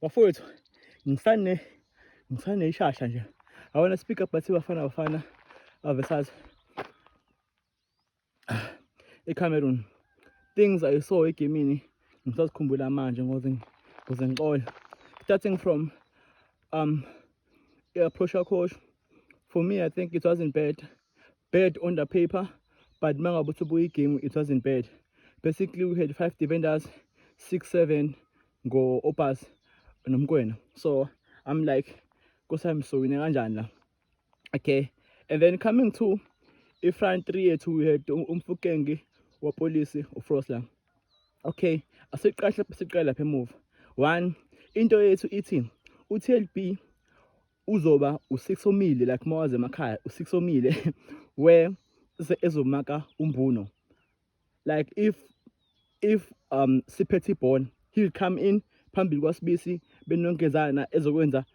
bafowethu ngisane ngisane ishasha nje i wanna speak up bathi bafana bafana avesazi ecameroon things i saw egemini ngisazikhumbula manje ngoze ngoze ngixola starting from um i-approach yakhosho for me i think it wasn't bad bad on the paper but uma ngabe uthi ubuyigame it wasn't bad basically we had five defenders six seven ngo Oppas nomkwena so I'm like kusami sowine kanjani la okay and then coming to i-front three yethu we had um, umfukengi wapolisi ufrost la okay asiqashe siqale lapha emuva one into yethu ithi uTLB uzoba u6 omile like mawaze emakhaya u6 omile where ezomaka umbuno like if if um siphethe ibhola he will come in phambili kwasibisi benonkezana ezokwenza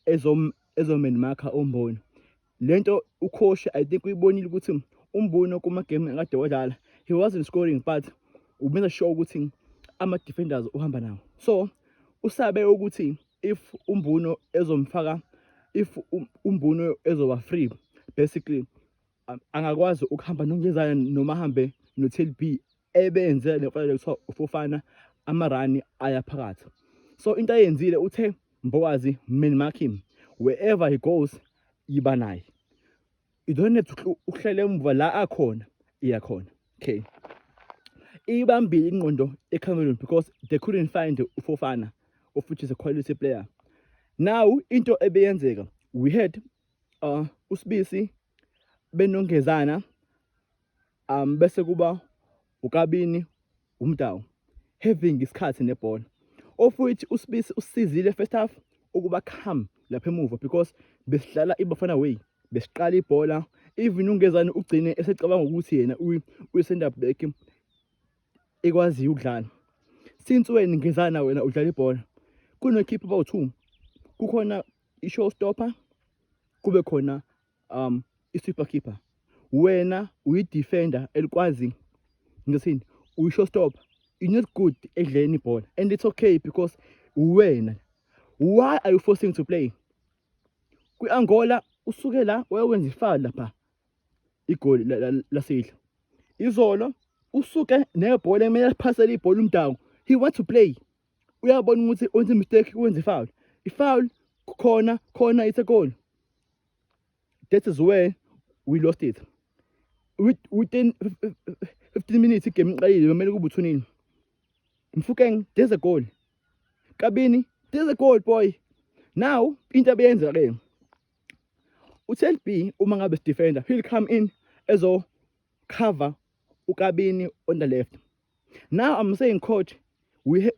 ezom ezomen makha omboni lento ukhoshi i think uyibonile ukuthi umbono kuma game akade wadlala he wasn't scoring but ubenza sure ukuthi ama defenders uhamba nawo so usabe ukuthi if umbuno ezomfaka if um, umbuno ezoba free basically angakwazi ukuhamba nongezana noma ahambe nothel b ebenze le mfanele kuthiwa ufofana amarani aya phakathi so into ayenzile uthe mbokazi min mark him wherever he goes yiba naye you don't have to uhlele emuva la akhona iya khona okay ibambile ingqondo ecameroon because they couldn't find ufofana of which is a quality player now into ebeyenzeka we had uh, usibisi benongezana um bese kuba ukabini umdawu having isikhathi nebhola of which usibisi usizile first half ukuba come lapha emuva because besidlala ibafana way besiqala ibhola even ungezani ugcine esecabanga ukuthi yena uyi-center back ekwaziyo ukudlala since wena ngezana wena udlala ibhola kunokhipha about two kukhona i-show stopper kube khona um i-super keeper wena uyi-defender elikwazi ngisini uyi-show stopper you not good ekudleni ibhola and it's okay because uwena why are you forcing to play kwi-angola usuke la wayewenza ifali lapha igoli lasidla izolo usuke nebhola ekumele liphasele ibhola umdawu he want to play uyabona ukuthi wenza mistake wenza ifoul ifoul khona khona it's a goal that is where we lost it within 15 minutes igame iqalile kumele kube uthunini mfukeng there's a goal kabini there's a goal boy now into abeyenza ke uTelb uma ngabe sidefender he'll come in ezo cover ukabini on the left now i'm saying coach we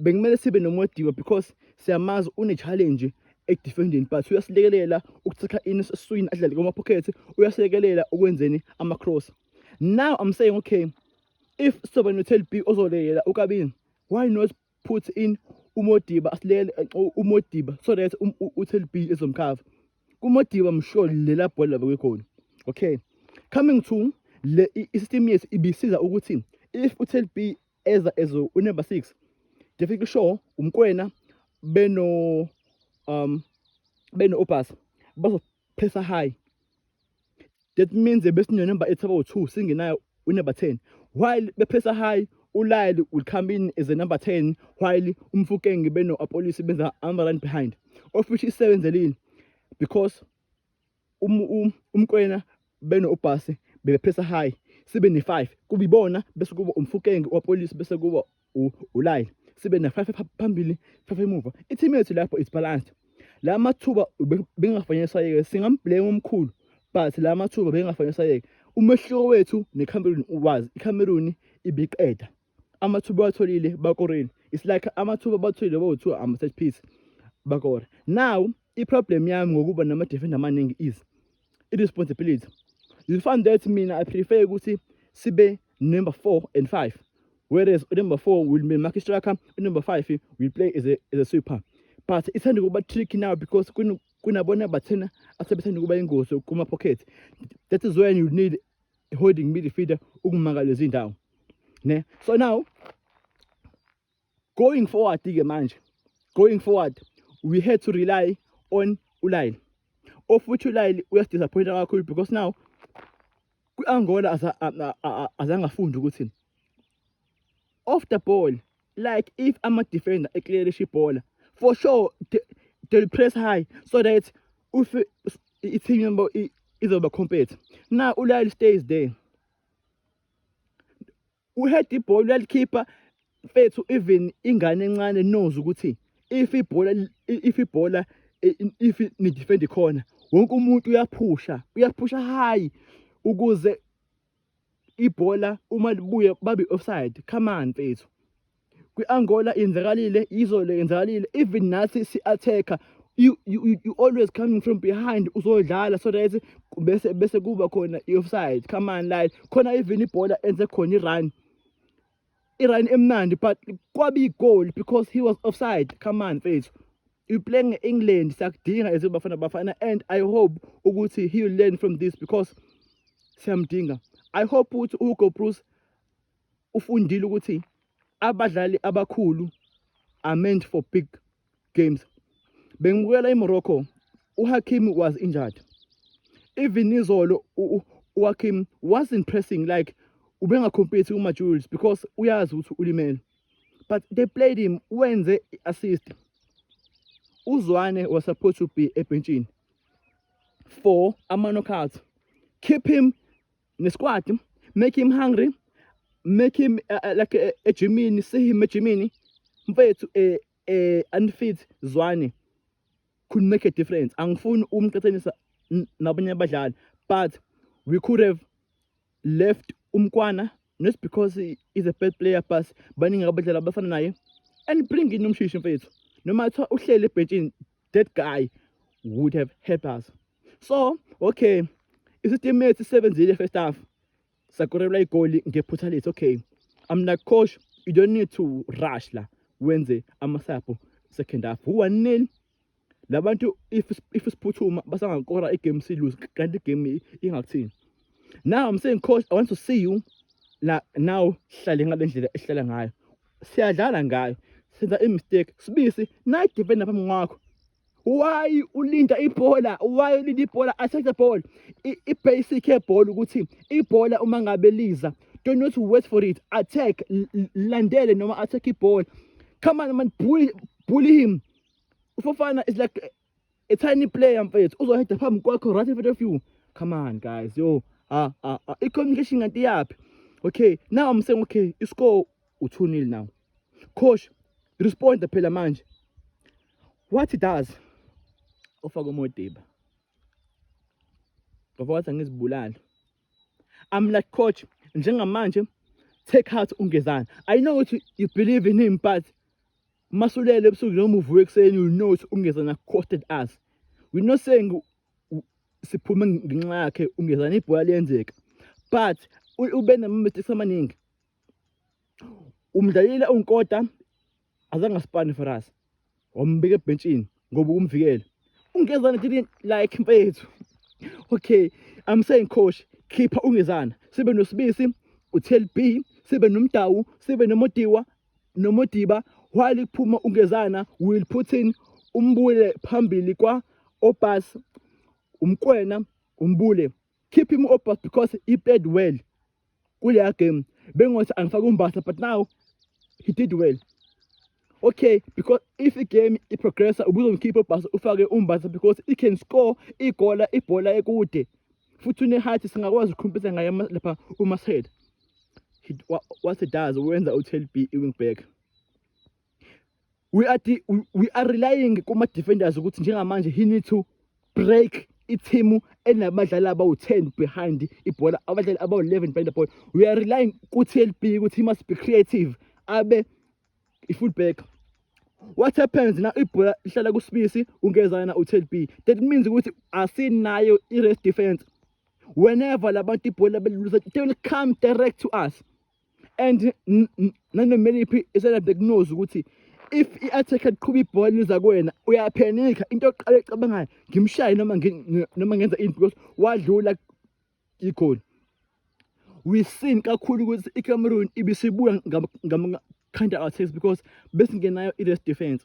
bekumele sibe nomodiba because siyamazi une-challenge ekudefendeni but uyasilekelela ukuthikha ini esiswini adlale kwama-pocket uyasilekelela ukwenzeni ama-cross now i'm saying okay if soba no-tel b ozolekelela ukabini why not put in umodiba asilele umodiba so that um, uthel b ezomkhava kumodiba msho lela bhola bakwekhona okay coming to le i-system yethu ibisiza ukuthi if uthel b eza ezo unumber 6 definitely sure umkwena beno um beno obus bazophesa high That means besinye number ethi about 2 singenayo unumber 10 while bephesa high ulile will come in as a number 10 while umfukenge beno apolice benza ama run behind office isebenzelini because um, um, umkwena beno ubhasi bebephesa high sibe ne-5 kubibona bese kuba umfukenge wapolice bese kuba ulayini sibe ne-five phambili five emuva i-team yethu lapho is balanced la mathuba bengafanele sayeke singamblame omkhulu but la mathuba bengafanele sayeke umehluko wethu necameroon uwazi icameroon ibiqeda amathuba atholile bakoreni it's like amathuba batholile bawu-two ama-set piece bakora now i-problem yami ngokuba nama-defender amaningi is i-responsibility you find that mina i prefer ukuthi sibe number four and five whereas number four will be market striker number five will play as a, as a sweeper but ithanda ukuba tricky now because kunabona bathena asebethanda ukuba ingozi kuma-pocket that is when you need holding midfielder ukumaka lezi ndawo ne so now Going forward ke manje, going forward we had to rely on ulayini of which ulayini uyasidisappointa kakhulu because now kwi-angola azange afunde ukuthi off the ball like if ama-defender eclearisha ibhola for sure they'll press high so that if i-team yabo izoba compete now ulayini stays there Uhead ibhola uyalikhipha mfethu even ingane encane knows ukuthi if ibhola if ibhola if ni defend khona wonke umuntu uyaphusha uyaphusha high ukuze ibhola uma libuye babe offside come on mfethu kwi-angola yenzakalile izolo yenzakalile even nathi si-attack-a you, you, you, you always coming from behind uzodlala so that bese bese kuba khona i-offside come on like khona even ibhola enze khona i-run i-run emnandi but kwabe igoli because he was offside come on mfethu you play nge-england siyakudinga as bafana bafana and i hope ukuthi he will learn from this because siyamdinga i hope ukuthi uhugo bruce ufundile ukuthi abadlali abakhulu are meant for big games bengibukela iMorocco uHakim was injured even izolo uHakim wasn't pressing like ubengacompete kumaJules because uyazi ukuthi ulimele but they played him wenze i-assist uzwane was supposed to be ebhentshini for ama-knockout keep him ne squat make him hungry make him uh, uh, like uh, ejimini see him ejimini mfethu eh eh unfit zwane could make a difference angifuni umqhathanisa nabanye abadlali but we could have left umkwana not because he is a bad player but baningi abadlali abafana naye and bring in umshishi mfethu noma kuthiwa uhlele ebhentshini that guy would have helped us so okay isitimethi sisebenzile first half sakorelwa igoli ngephutha lethu okay i'm like coach you don't need to rush la wenze amasapho second half one-nil labantu if if siphuthuma basangakora igame silose kanti igame ingakuthini now i'm saying coach i want to see you la now sihlale ngale ndlela esihlala ngayo siyadlala ngayo senza imistake sibisi nayi defender phambi kwakho why ulinda ibhola why ulinda ibhola athathe ibhola i-basic yebhola ukuthi ibhola uma ngabe liza don't not wait for it attack landele noma attack ibhola come on man bully, bully him ufofana is like a tiny player mfethu uzoheda phambi kwakho right in front of you come on guys yo ah ah ah i-communication kanti iyaphi okay now i'm saying okay iscore u-two nil now coach respond phela manje what he does ofaka umodiba ngoba wathi angizibulali I'm like coach njengamanje take heart ungezana i know ukuthi you believe in him but masulele ebusuku noma uvuke ekuseni you know ukuthi ungezana costed us we not saying siphume ngenxa yakhe ungezana ibhola liyenzeka but ube nama-mistakes amaningi umdlalile unkota azange asipane for us wambeka ebhentshini ngoba ukumvikela ungezana didn't like mfethu okay i'm saying coach khipha ungezana sibe nosibisi uthel b sibe nomdawu sibe nomodiwa nomodiba while iphuma ungezana will put in umbule phambili kwa obas umkwena umbule keep him up because he played well kuleya game bengothi angifake umbasa but now he did well okay because if igame iprogressa ubuzomkhipha ubhasa ufake umbasa because he can score igola ibhola ekude futhi unehathi singakwazi ukukhompisa ngaye lapha umashead what he does wenza u-12 b i-wing back we are we are relying kuma defenders ukuthi njengamanje he need to break ithimu enabadlali abawu-10 behind ibhola abadlali abawu-11 behind the ball we are relying ku-tlb ukuthi he must be creative abe i-fullback what happens na ibhola lihlala kusibisi ungezana u-tlb that means ukuthi asinayo i-rest defense whenever labantu ibhola belulusa they will come direct to us and nanomeliphi iselade kunozi ukuthi if i-attack eqhuba ibhola liza kuwena uyaphenika into yokuqala ecabangayo ngimshaye noma noma ngenza into because wadlula igoli we seen kakhulu ukuthi icameroon ibisibuya ngama-counter attacks because besingenayo i-rest defense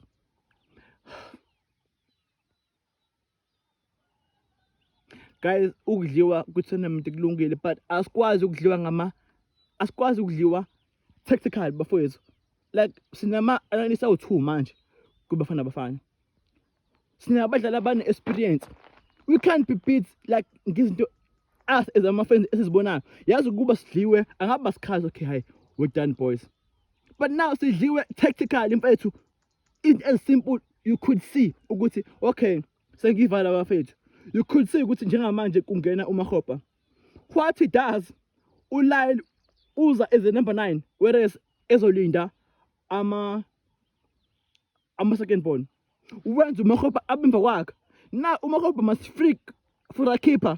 guys ukudliwa kwi-tournament kulungile but asikwazi ukudliwa ngama asikwazi ukudliwa tactical bafowethu like sinama-analyst awu-two manje kubafana bafana sinabadlali abane-experience we can't be beat like ngizinto us as ama-friends esizibonayo yazi ukuba sidliwe angaba sikhazi okay hayi we're done boys but now sidliwe tactical mfethu It as simple you could see ukuthi okay sengivala bafethu. You could see ukuthi njengamanje kungena uMakgopa. What he does uLyle uza as a number 9 whereas ezolinda ama ama second born. Wenza uMakgopa abemva kwakhe. Na uMakgopa must freak for a keeper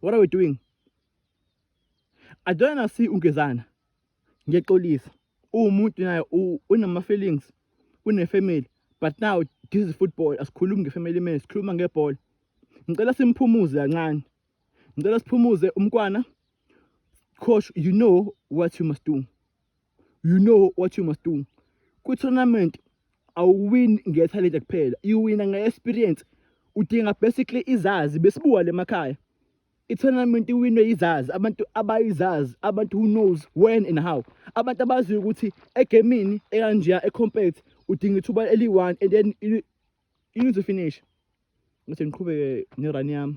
What are we doing? I don't wanna see ungezana. Ngiyaxolisa. Uwumuntu naye unama feelings, une family. But now this is football. Asikhulumi ngefamily man, sikhuluma ngebhola. Ngicela simphumuze kancane. Ngicela siphumuze umkwana. Coach, you know what you must do. you know what you must do kwi-tournament awuwini ngethalente kuphela iwina nge-experience udinga basically izazi besibuka le makhaya i-tournament iwinwe yizazi abantu abayizazi abantu who knows when and how abantu abaziyo ukuthi egemini ekanjeya ecompete udinga ithuba eliyi-one and then you need to finish ukuthi ngiqhubeke ne-run yami